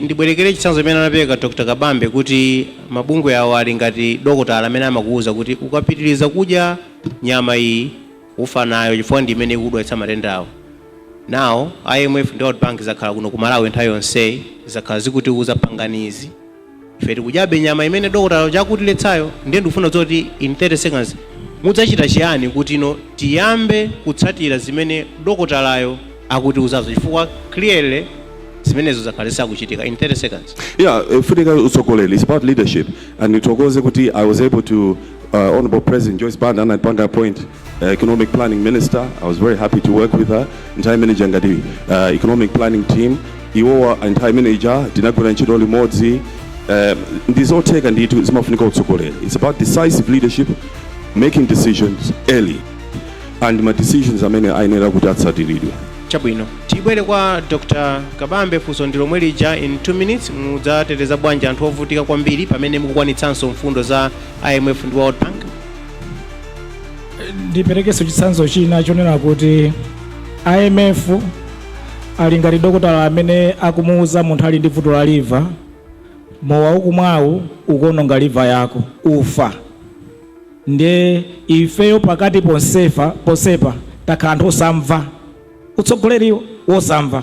ndibwerekere chitsanzo chimene anapereka dr kabambe kuti mabungwe awo ali ngati dokotala amene amakuwuza kuti ukapitiriza kudya nyama iyi ufa nayo chifukwa ndi imene ikudwalitsa matendawo nawo imf ndi world bank zakhala kuno ku malawi nthawi yonseyi zakhala zikutiwuza panganizi Ife tikudyabe nyama imene dokotala uja akutiletsayo. Ndiye ndikufuna kudziwa kuti in 30 seconds mudzachita chiyani kuti no tiyambe kutsatira zimene dokotalayo akutiuzazo chifukwa clearly zimenezo zakhala zisakuchitika in 30 seconds. Yeah, Ofunika Utsogoleri, it's about leadership. And Nithokoze kuti I was able to, uh, Honorable President Joyce Banda anandipanga appoint economic planning minister i was very happy to work with her nthawi imene ija ngati uh, economic planning team iwowa nthawi imene ija tinagwira ntchito limodzi um, ndi zotheka ndithu zimafunika utsogoleri it's about decisive leadership making decisions early and ma decisions amene ayenera kuti atsatiridwe chabwino tibwere kwa dr kabambe funso ndi lomwe lija in 2 minutes mudzateteza bwanji anthu ovutika kwambiri pamene mukukwanitsanso mfundo za imf ndi world bank ndiperekenso chitsanzo china chonena kuti imf ali ngati dokotala amene akumuwuza munthu ali ndi vuto la liva mowa ukumwawu ukuononga liva yako ufa ndiye ifeyo pakati ponsepa takhala anthu osamva utsogoleri wosamva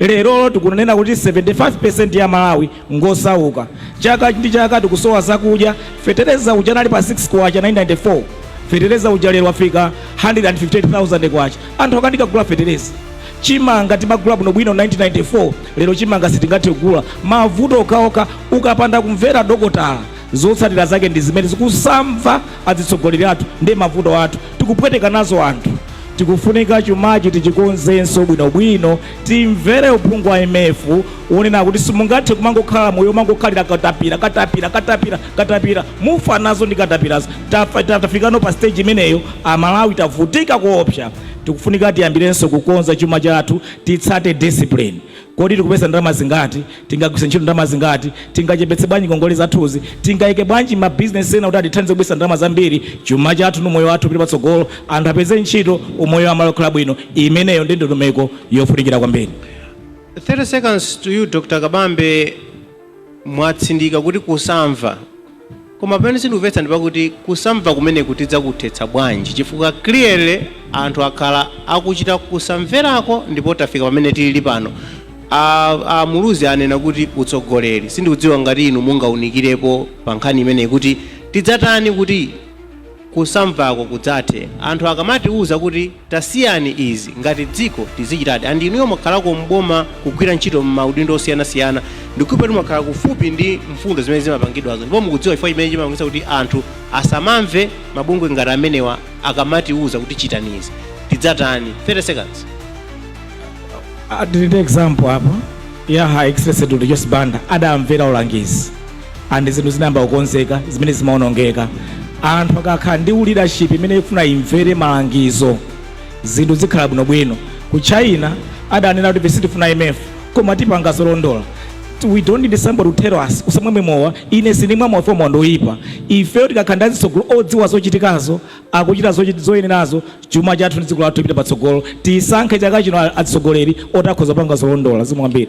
Lero tikunena kuti 75% ya Amalawi ngosauka. Chaka ndi chaka tikusowa zakudya, fetereza uja anali pa K6 1994, fetereza uja lero wafika K158,000. Anthu akanika kugula fetereza. Chimanga timagula bwino bwino 1994, lero chimanga sitingathe kugula. Mavuto okhaokha, ukapanda kumvera dokotala zotsatira zake ndi zimenezi. Kusamva azitsogoleri athu ndi mavuto athu tikupweteka nazo anthu. Tikufunika chumachi tichikonzenso bwino bwino, timvere uphungu wa IMF wonena kuti simungathe kumangokhala moyo womangokhalira katapira, katapira, katapira, katapira. Mufa nazo ndi katapirazo. Tafa, tafikano pa stage imeneyo, a Malawi tavutika koopsa. Tikufunika tiyambirenso kukonza chuma chathu, titsate discipline. Kodi tikupeza ndalama zingati? Tingagwiritse ntchito ndalama zingati? Tingachepetse bwanji ngongole zathuzi? Tingaike bwanji ma business ena kuti atithandize kubweretsa ndalama zambiri? Chuma chathu ndi umoyo wathu upite patsogolo, anthu apeze ntchito, umoyo wa Amalawi ukhale bwino, imeneyo ndiye ndondomeko yofunikira kwambiri. 30 seconds to you Dr Kabambe. Mwatsindika kuti kusamva, koma pamene sindikuvetsa ndipakuti kusamva kumeneku tidzakuthetsa bwanji chifukwa clearly anthu akhala akuchita kusamverako ndipo tafika pamene tilili pano. A Muluzi anena kuti utsogoleri, sindikudziwa ngati inu mungaunikirepo pa nkhani imeneyi kuti tidzatani kuti. kusamvako kudzathe anthu akamatiuza kuti tasiyani izi ngati dziko tizichitadi and inuyo mwakhalako m'boma kugwira ntchito m'maudindo osiyana siyana ndikuipatu mwakhala kufupi ndi mfundo zimene zimapangidwazo ndipo mukudziwa chifukwa chimene chimapangisa kuti anthu asamamve mabungwe ngati amenewa akamatiuza kuti chitani izi tizatani 30 seconds adilinde example apa ya her excellency dr joyce banda adamvera ulangizi and zinthu zinayamba kukonzeka zimene zimaonongeka anthu akakhala ndi u leadership imene ifuna imvere malangizo zinthu zikhala bwinobwino ku china adanena kuti vesi tifuna imf koma tipanga zolondola we don't need somebody to tell us usamamwe mowa ine sinimwa mowa fomowa ndoyipa ifeyo tikakhala ndi azitsogoleri odziwa zochitikazo akuchita zochit- zoyenerazo chuma chathu ndi dziko lathu tipita patsogolo tisankhe chaka chino azitsogoleri otakhoza kupanga zolondola ndizambiri